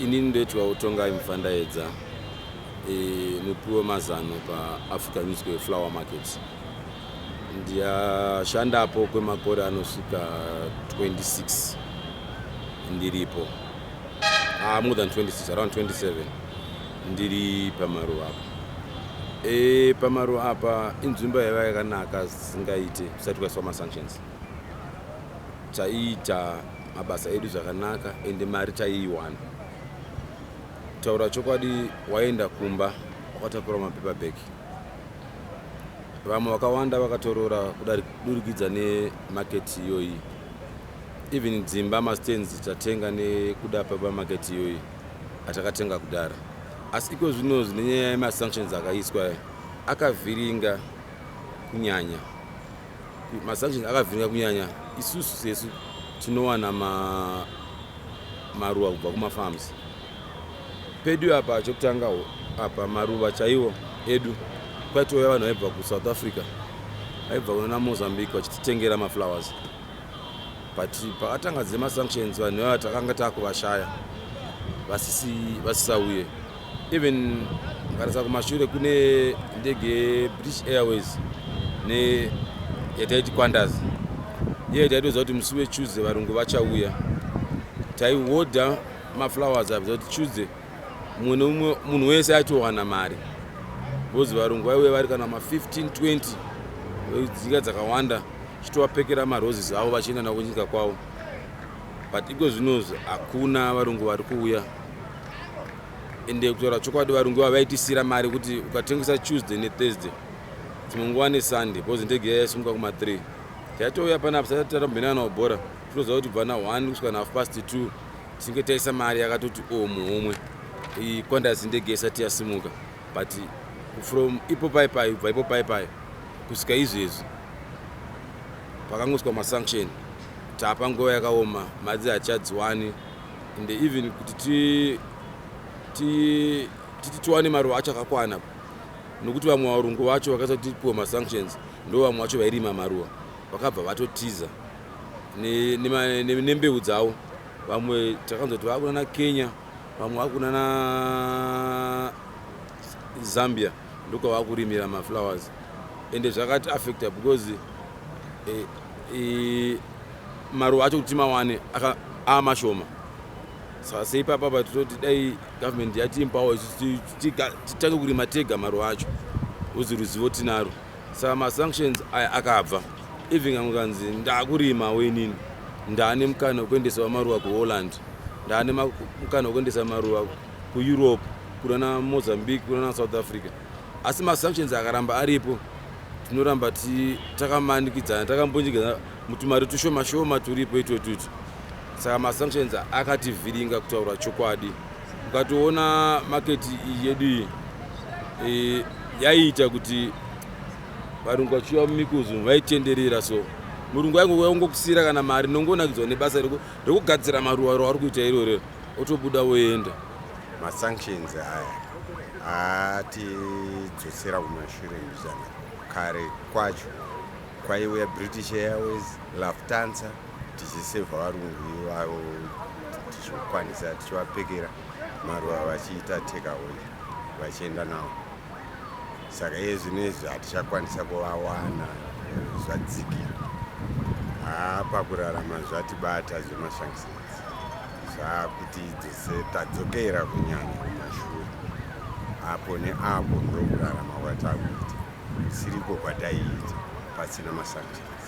inini ndoitwa utongai mfandaedza e, eh, mupi wemazano paafrican musical flower market ndiyashandapo kwemakore anosvika 26 ndiripo ah, more than 26 around 27 ndiri pamaruva apa e, pamaruva apa inzvimbo yaiva yakanaka zisingaite kusati kwaiswa masanctions chaiita mabasa edu zvakanaka ende mari taiiwana taura chokwadi waenda kumba wakatakura mapepa bheki vamwe vakawanda vakatoroora kudurikidza nemaketi iyoyi even dzimba mastands tatenga nekuda pepa maketi iyoyi atakatenga kudhara asi iko zvino zvine nyaya yemasanctions akaiswa akavhiringa kunyanya masanctions akavhiringa kunyanya isusu sesu tinowana ma, maruwa kubva kumafarms pedu apa chokutanga apa maruva chaiwo edu kwaitouya vanhu vaibva kusouth africa vaibva kunana mozambique vachititengera maflowers but pakatanga dzemasanctions vanhu vava takanga takuvashaya vasisauye even varisa kumashure kune ndege yebritish airways neyataiti quandas iye taitoziva kuti musi wetuesday varungu vachauya taihodha maflowers avi zvakuti tuesday mumwe neumwe munhu wese aitowana mari bcause varungu vaiuya vari kana ma15 20 dzika dzakawanda chitovapekera maroses avo vachienda navo kunyika kwavo but iko zvinozi hakuna varungu vari kuuya ende kutaura chokwadi varungu vava vaitisira mari kuti ukatengesa tuesday nethursday dzimwe nguva nesunday bcause ndege iya yaisumuka kuma3 taitouya panapa sati tata mbenana nawo bhora tinoziva kuti bva na1 kusvika nahalf past 2 tinge taisa mari yakatoti o muhomwe ikwandasi ndege isati yasimuka but from ipo pai pai ubva ipo pai pai kusvika izvezvi pakangoswa masanction tapa nguva yakaoma madzi hachadziwani and even kuti ti ti titi tiwane maruva acho akakwana nokuti vamwe varungu vacho vakaisa kuti tipiwe masanctions ndo vamwe vacho vairima maruva vakabva vatotiza nembeu dzavo vamwe takanzwa kuti vakunana kenya vamwe vakunana zambia ndokwavakurimira maflowers ende zvakati affecta because eh, eh, maruva acho kuti timawane aamashoma saka seipapa pa tototi dai government yatiimpawo titange kurima tega maruva acho uzi ruzivo tinaro saka masanctions aya akabva even kamwe kanzi ndaakurima wenini ndaane mukana wekuendesa wamaruva kuholland ndaane mukana wekuendesa maruva kueurope kuna namozambique kuna nasouth africa asi masanctions akaramba aripo tinoramba takamanikidzana takambunyikidzana mutumari tushoma shoma turipo itotuti saka masanctions akativhiringa kutaura chokwadi ukatoona maketi iyi yedu iyi e, yaiita kuti varungu vachiuya mumikuzu vaitenderera so murungu aingouya kungokusira kana mari nongonakidzwa nebasa rekugadzira maruwa roari kuita irorero otobuda woenda masanctions aya atidzosera kumashure mbichana kare kwacho kwaiuya british airways laftansa tichisevha varungu ivavo tichikwanisa tichivapekera maruva vachiita takeaway vachienda navo saka iye zvino izvi hatichakwanisa kuvawana zvadzikira haa pakurarama zvatibata zvemashangisinzi zvakuti dzose tadzokera kunyanya kumashure apo neapo ndokurarama kwatakuita kusiriko kwataiita pasina masubjects